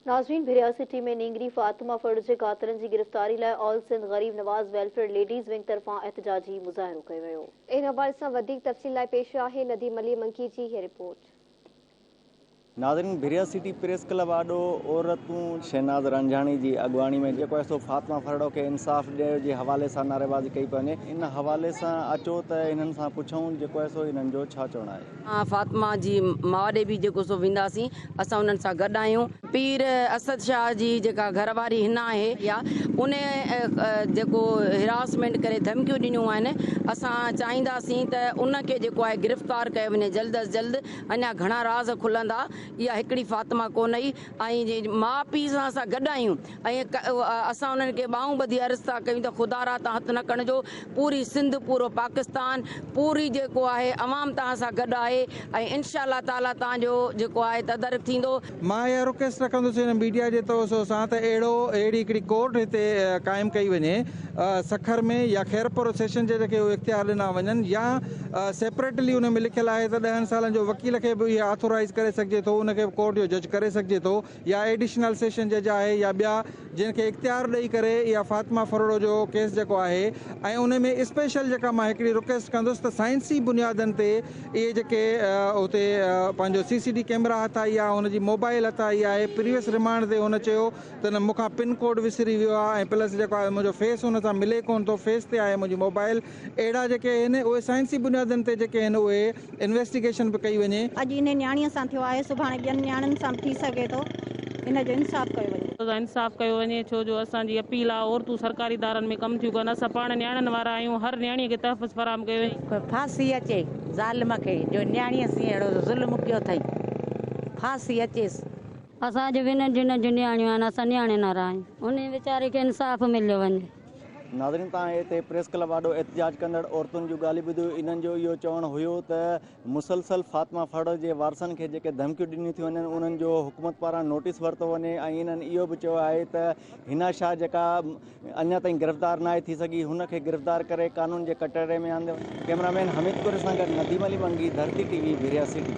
ناظرين ڀريا سٽي ۾ نينگري فاطمه ڦڙ جي قاتلن جي گرفتاري لاء آل Sindh Gharib Nawaz welfare ladies wing طرفان احتجاجي مظاهرو ڪيو ويو. ان حوالي سان وڌيڪ تفصيل لاء پيش آهي نديم علي منڪي جي هي رپورٽ. ناظرين ڀريا سٽي پريس ڪلب آڏو عورتون شهناز رانجهاڻي جي اڳواڻي ۾ جيڪو آهي سو فاطمه ڦرڙو کي انصاف ڏيو جي حوالي سان نعريبازي ڪئي پئي وڃي ان حوالي سان اچو ته انهن سان پڇون جيڪو آهي سو انهن جو ڇا چوڻ آهي. فاطمه جي ماء ڏي به جيڪو سو وينداسين، اسان انهن سان گڏ آهيون. پير اسد شاهه جي جيڪا گهر واري هن آهي يا ان جيڪو هراسمينٽ ڪري ڌمڪيون ڏنيون آهن، اسان چاهينداسين ته ان کي جيڪو آهي گرفتار ڪيو وڃي جلد از جلد، اڃا گهڻا راز کلندا، اها هڪڙي فاطمه ڪونه ئي. ۽ جي ماء پيء سان اسان گڏ آهيون ۽ اسان انهن کي ٻانهون ٻڌي عرض ٿا ڪيون ته خدا را تان هٿ نه کڻجو پوري سنڌ پورو پاڪستان پوري جيڪو آهي عوام توهان سان گڏ آهي ۽ انشاء الله تعالي توهان جو جيڪو آهي تدارڪ ٿيندو. مان اها رڪويسٽ رکندس ان ميڊيا جي توسو سان ته اهڙو اهڙي هڪڙي ڪورٽ هتي قائم ڪئي وڃي سکر ۾ يا خيرپور و سيشن جج کي اهي اختيار ڏنا وڃن يا سيپريٽلي ان ۾ لکيل آهي ته ڏهن سالن جو وڪيل کي به اهي آٿورائيز ڪري سگهجي ٿو ان کي به ڪورٽ جو جج ڪري سگهجي ٿو يا ايڊيشنل سيشن جج آهي يا ٻيا جن کي اختيار ڏئي ڪري اها فاطمه ڦرڙو جو ڪيس جيڪو آهي ۽ ان ۾ اسپيشل جيڪا مان هڪڙي رڪيسٽ ڪندس ته سائنسي بنيادن تي اهي جيڪي اتي پنهنجو سي سي ڊي ڪيمرا هٿ آئي آهي هن جي موبائل هٿ آئي آهي پريوس ريمانڊ تي هن چيو تنهن مون کان پن ڪوڊ وسري ويو آهي ۽ پلس جيڪو آهي منهنجو فيس ان سان ملي ڪونه ٿو فيس تي آهي منهنجي موبائل اهڙا جيڪي آهن اهي سائنسي بنيادن تي جيڪي آهن اهي انويسٽيگيشن به ڪئي وڃي. اڄ انهي نياڻيء سان ٿيو آهي سڀاڻي ٻين نياڻين سان به ٿي سگهي ٿو ان جو انصاف ڪيو وڃي. انصاف ڪيو وڃي ڇو جو اسان جي اپيل آهي عورتون سرڪاري ادارن ۾ ڪم ٿيون ڪن اسان پاڻ نياڻين وارا آهيون هر نياڻي کي تحفظ فراهم ڪيو وڃي. ڦاسي اچي ظالم کي جو نياڻيء سين اهڙو ظلم ڪيو اٿئي ڦاسي اچيس. اسان جون ونھن جنھن جون نياڻيون آھن اسان نياڻي نارا آھيون انھي ويچاري کي انصاف مليو وڃي. ناظرين توهان هتي پريس ڪلب آڏو احتجاج ڪندڙ عورتن جون ڳالهيون ٻڌيو انهن جو اهو چوڻ هيو ته مسلسل فاطمه ڦڙ جي وارثن کي جيڪي ڌمڪيون ڏنيون ٿيون وڃن انهن جو حڪومت پاران نوٽيس ورتو وڃي ۽ انهن اهو به چيو آهي ته حنا شاهه جيڪا اڃا تائين گرفتار ناهي ٿي سگهي هن کي گرفتار ڪري قانون جي ڪٽهڙي ۾ آندو وڃي ڪيمرامين حميد ڪوري سان گڏ Nadeem Ali Mangi Dharti T V Bahria city